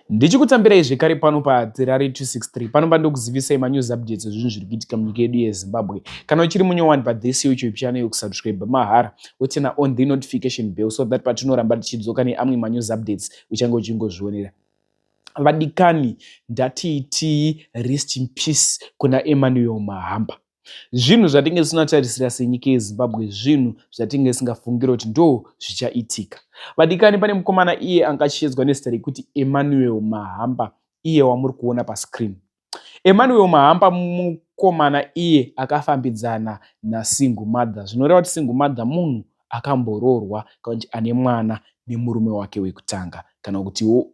Ndichikutambirai zvekare pano paTerrari 263 panova ndokuzivisai manews updates ezvinhu zviri kuitika munyika yedu yeZimbabwe. Kana uchiri munyowani pathis YouTube channel yokusubscribe mahara wotina on the notification bell so that patinoramba tichidzoka neamwe manews updates uchange uchingozvionera. Vadikani ndatiitii rest in peace kuna Emmanuel Mahamba. zvinhu zvatinge tisinatarisira senyika yezimbabwe zvinhu zvatinge tisingafungire kuti ndo zvichaitika vadikani pane mukomana iye anga achiedzwa nezita rekuti emmanuel mahamba iye wamuri kuona pascreen emmanuel mahamba mukomana iye akafambidzana nasingle mother zvinoreva kuti single mother munhu akamboroorwa kana kuti ane mwana nemurume wake wekutanga kana kutiwo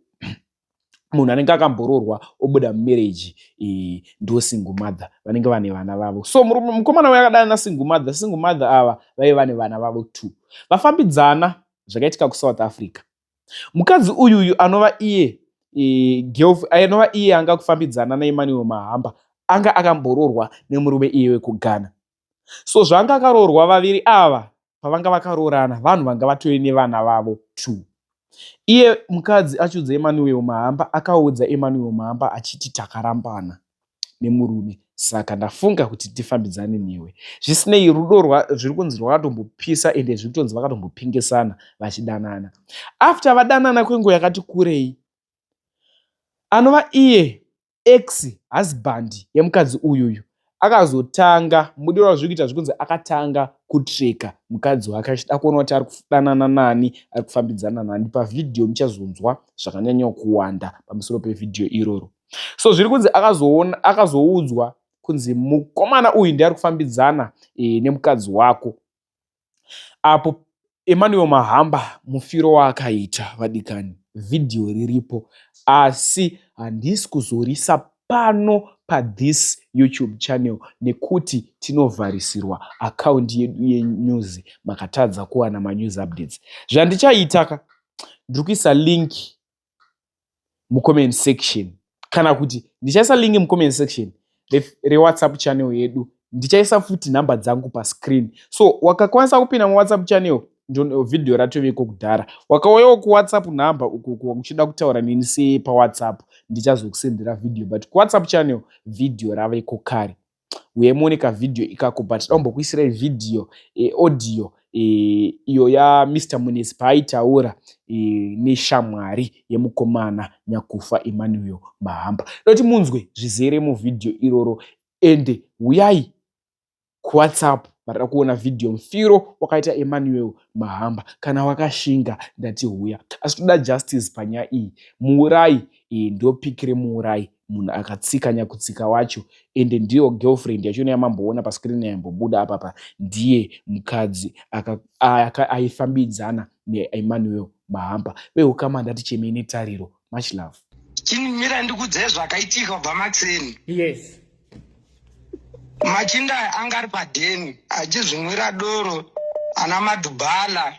munhu anenge akamboroorwa obuda mumereji iyi ndo single mother vanenge vane vana vavo so mukomana uya akadana nasingle mother single mother ava vaive vane vana vavo two vafambidzana zvakaitika kusouth africa mukadzi uyu uyu anova iye e, anova iye anga kufambidzana naemmanuel mahamba anga akamboroorwa nemurume iye wekughana so zvanga akaroorwa vaviri ava pavanga vakaroorana vanhu vanga vatove nevana vavo two iye mukadzi achiudza emanuel mahamba akaudza emanuel mahamba achiti takarambana nemurume saka ndafunga kuti tifambidzane newe zvisinei rudo zviri kunzi rwakatombopisa ende zviri kutonzi vakatombopingisana vachidanana after vadanana kwenguva yakati kurei anova iye ex husband yemukadzi uyuyu akazotanga mudiwa wazviri kuita zvikunzi akatanga kutreka mukadzi wake achida kuona kuti ari kudanana nani ari kufambidzana nani pavhidhiyo muchazonzwa zvakanyanya kuwanda pamusoro pevhidhiyo iroro so zviri kunzi akazoona akazoudzwa kunzi mukomana uyu ndiari kufambidzana e, nemukadzi wako apo Emmanuel Mahamba mufiro waakaita vadikani video riripo asi handisi kuzorisa pano pa this YouTube channel nekuti tinovharisirwa account yedu ye news makatadza kuwana ma news updates zvandichaita ka ndiri kuisa link mucomment section kana kuti ndichaisa link mucomment section rewhatsapp re channel yedu ndichaisa futi nhamba dzangu pascreen so wakakwanisa kupinda muwhatsapp channel video ratoveko kudhara wakauyawo kuwhatsapp number ukoko uchida kutaura neni sei pawhatsapp ndichazokusendera video but kuwhatsapp channel video raveko kare uye muone ka video ikako but taumbokuisirai video e, audio e, iyo ya Mr Munetsi paaitaura e, neshamwari yemukomana Nyakufa Emmanuel Mahamba noti munzwe zvizere mu video iroro ende huyai ku WhatsApp varida kuona video mfiro wakaita Emmanuel Mahamba kana wakashinga ndati huya asi toda justice panyaya iyi muurayi e, ndopic remuurayi munhu akatsika nyakutsika wacho ende ndiyo girlfriend yachona yamamboona pascreen yaimbobuda apapa ndiye mukadzi aifambidzana neemmanuel mahampa veukama ndati chemei netariro much love chinimira ndikudzee zvakaitika kubva matseni yes machinda anga ari padheni achizvinwira doro ana madhubhala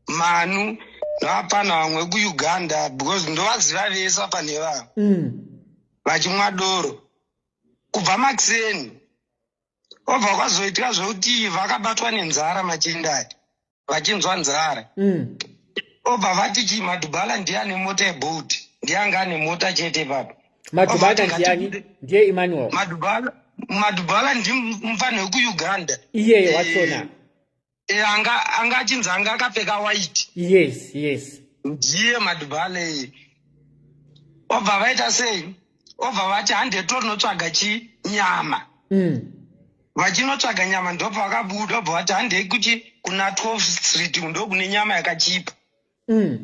manu hapana vamwe kuuganda because ndovaziva vese apa nevavo mm. vachimwa doro kubva makuseni obva kwazoitika zvekuti vakabatwa nenzara machinda aya vachinzwa nzara mm. obva vati chii madhubala ndiye ane mota yeboat ndiye anga ane mota chete papa madhubala ndiyani ndiye emmanuel madhubala madhubala ndimufani wekuuganda iyeyo wachona eh, e, anga anga achinzi anga akapfeka white yes yes ndiye madhubhale obva vaita sei obva vati hande torinotsvaga chi nyama mm. vachinotsvaga nyama ndobva vakabuda obva vati handei kuti kuna 12 street ndokune nyama yakachipa mm.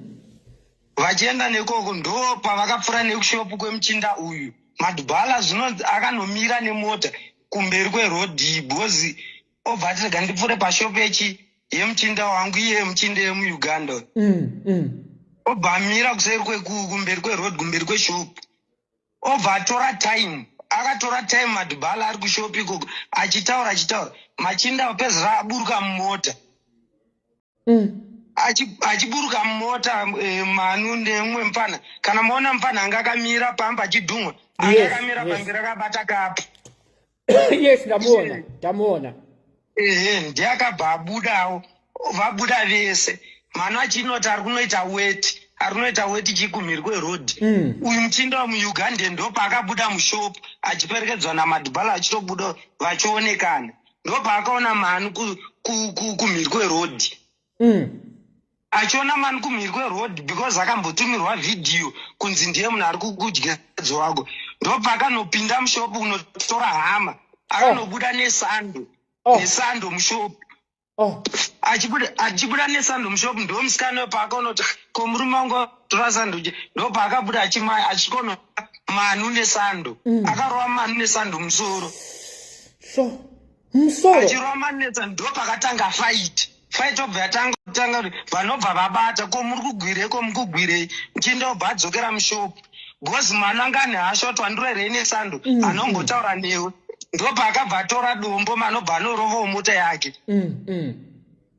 vachienda nekoko ndo pavakapfuura nekushopu kwemuchinda uyu madbala zvinonzi akanomira nemota kumberi kwerodhi bhozi obva ati rega ndipfuure pashopu yechi yemuchinda wangu iye muchinda yemuuganda mm, mm. obva amira kuseri kumberi kweroad kumberi kweshopu obva atora time akatora time madhibhala ari kushopi ikoko achitaura achitaura machinda opedzisira aburuka mumota mm. achiburuka mumota eh, manu neumwe mfana kana maona mfana anga akamira pamba achidhumwa anga akamira pambira akabata kapu yes ndamuona ndamuona ehe ndiye akabva abudawo vabuda vese mano achinoti ari kunoita weti ari kunoita weti chikumhiri kweroad mm. uyu muchinda wamuuganda ndopaakabuda mushop achiperekedzwa namadhibhala achitobuda vachionekana ndopaakaona mano kumhiri kweroad mm. achiona mani kumhiri kweroad because akambotumirwa vhidhiyo kunzi ndiye munhu ari kukudya dzo wako ndopakanopinda mushopu kunotora hama akanobuda oh. nesando oh. nesando mushopu oh. achibuda nesando mushopu ndo musikana wepaakaonoti ko murume wangu tora sando je ndo paakabuda achimaya achikono manu nesando mm. akarova manu nesando musoro so musoro achirova manetsa ndopakatanga fight fight obva yatanga kutanga kuti vanobva vabata ko muri kugwirei ko mukugwirei mchinda obva adzokera mushopu bcoz mwana anga ane hasha kuti wandiro here ine sando mm, anombotaura mm. newe ndopaakabva atora dombo manobva anorovawo mota yake mm,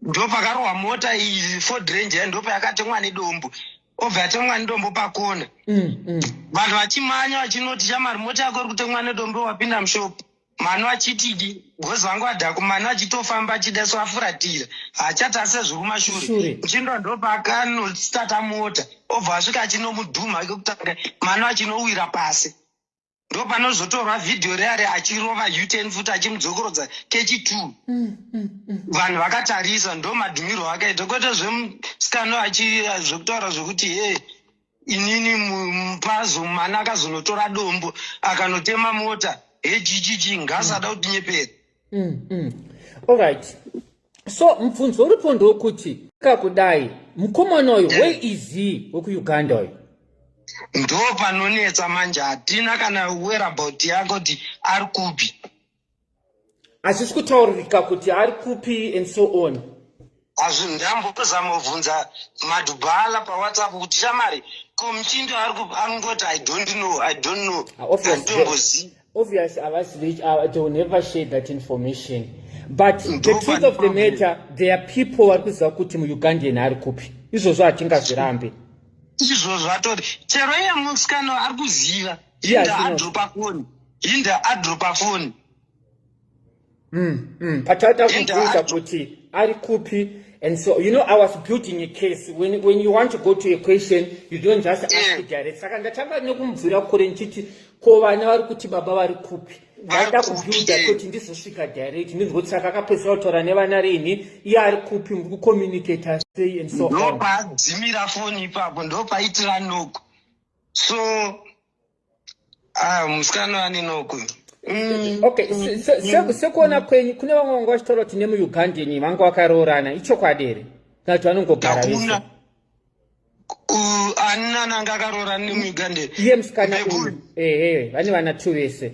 ndopakarohwa mota iyi ford range ya ndopayakatemwa nedombo obva yatemwa nedombo pakona vanhu vachimanya vachinoti chamari mota yako iri kutemwa nedombo wapinda mushopu mano achitidi gozi vangu adhako mano achitofamba achida so afuratira hachati asezvi kumashure chindo ndopaakanositata mota obva asvika achinomudhuma kekutanga mano achinowira pasi ndopanozotorwa vhidhiyo reare achirova uten futi achimudzokorodza kechi t mm, mm, mm. vanhu vakatarisa ndomadhumirwo akaita kwete zvemusikano zvekutaura zvekuti hee inini mupazo mwana akazonotora dombo akanotema mota hejijiji ngaasada mm. kutinyepera mm, mm. allright so mubvunzo uripo ndokuti kakudai mukomana uyu where is he wekuuganda uyu ndo panonetsa manje hatina kana werabout yako kuti ari kupi hazvisi kutaurika kuti ari kupi and so on hazvindambozamobvunza madhubhala pawhatsapp kuti shamari ko muchindo arikungoti i don't know i don't know andombozi ah, obvious avazivi ah, they will never share that information but the truth of the matter there are people vari kuziva kuti muugandian ari kupi izvozvo hatingazvirambe izvozvo atori chero iye musikano ari kuziva hinda adropa foni hinda adropa foni hmm, hmm. pataita kubvunza kuti ari kupi And so, you know, I was building a case. When, when you want to go to a question, you don't just ask yeah. direct. Saka ndatanga nekumubvira kure ndichiti ko vana vari kuti baba vari kupi ndaida kubuilda kuti ndizosvika direct ndinzoti saka akapedzisira kutaura nevana rini iye ari kupi muri kucommunicata sei and so on ndopadzimira foni ipapo ndopaitiranoku so ah, musikana aninoko mm. okay mm. sekuona kwenyu kune vamwe vanga vachitaura kuti nemuugandan vanga vakaroorana ichokwadi here kana kuti vanongogara vese anina nanga akaroorana nemuugandan iye musikana uyu ehe vane vana two vese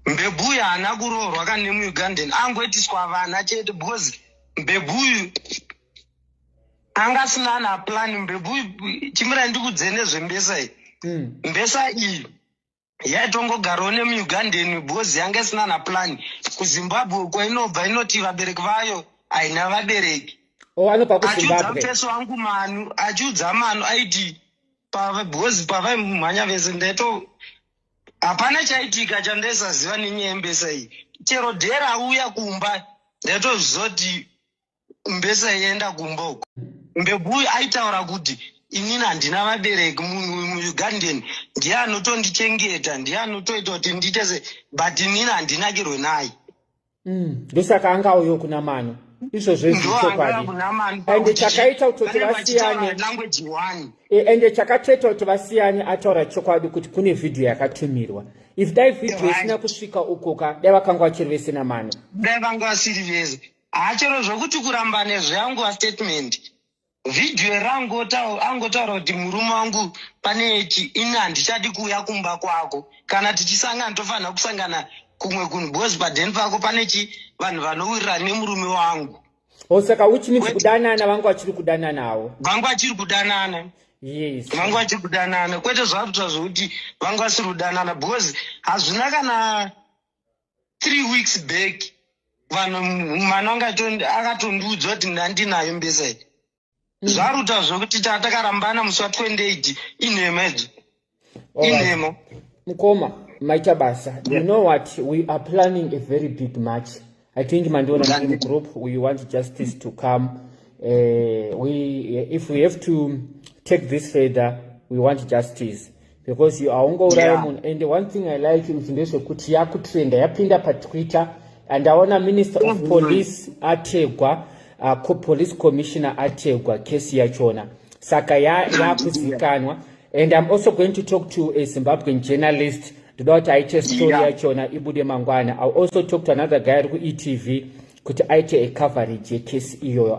mbebuyu haana kuroorwa kanemuugandan angoitiswa vana chete because mbebuyu anga asina ana plan mbebvu chimira ndikudze nezvembesa iyi mm. mbesa iyi yaitongogarawo nemuugandan because yanga isina na plan kuzimbabwe uko inobva inoti vabereki vayo haina vabereki oh, achiudza mfeso wangu manu achiudza manu aiti because pavaimhanya vese ndaito hapana chaitika chandaisaziva nenyaya yembesa iyi chero dhera auya kumba ndaitozviziva kuti mbesa yenda kumba uko mbegu uyu aitaura kuti inini handina vabereki munhu uyu muugandeni ndiye anotondichengeta ndiye anotoita kuti ndiite se but inini handinakirwe naye mm. ndosaka anga uyo kuna mano izvo zvezvichokwadi ende chakaita kutoti vasiyane e, ende chakatoita kuti vasiyane ataura chokwadi kuti kune vhidhiyo yakatumirwa if dai vhidhiyo isina kusvika ukoka dai vakanga vachiri vese namano dai vanga vasiri vese haa chero zvokuti kurambane zveanguva statement vhidhiyo iri angotaura kuti murume wangu pane chi ini handichadi kuuya kumba kwako kana tichisangana tofanira kusangana kumwe kunhu bcoz padeni pako pane chi vanhu vanowirira nemurume wangu osaka oh, which means kudanana vangu vachiri kudananawo vangu vachiri kudanana yes vangu vachiri kudanana kwete zvakuitwa zvokuti vangu vasiri kudanana because hazvina kana three weeks back vanhu mwana wanga akatondiudzwa kuti ndandinayo mbesa iyi mm. zvaruta zvekuti tatakarambana musi wa 28 inhema idzo inhema mukoma maita basa you know what we are planning a very big match I think mandiona in group we want justice to come uh, we if we have to take this further we want justice because you aungouraya yeah. munhu and one thing i like kuti ndezvekuti yakutrenda yapinda patwitter and aona minister of mm-hmm. police ategwa uh, police commissioner ategwa kesi yachona saka yakuzivikanwa ya and i'm also going to talk to a zimbabwean journalist ndoda kuti aite story yachona yeah. ibude mangwana i also talk to another guy ari kuetv kuti aite ecoverage yekesi iyoyo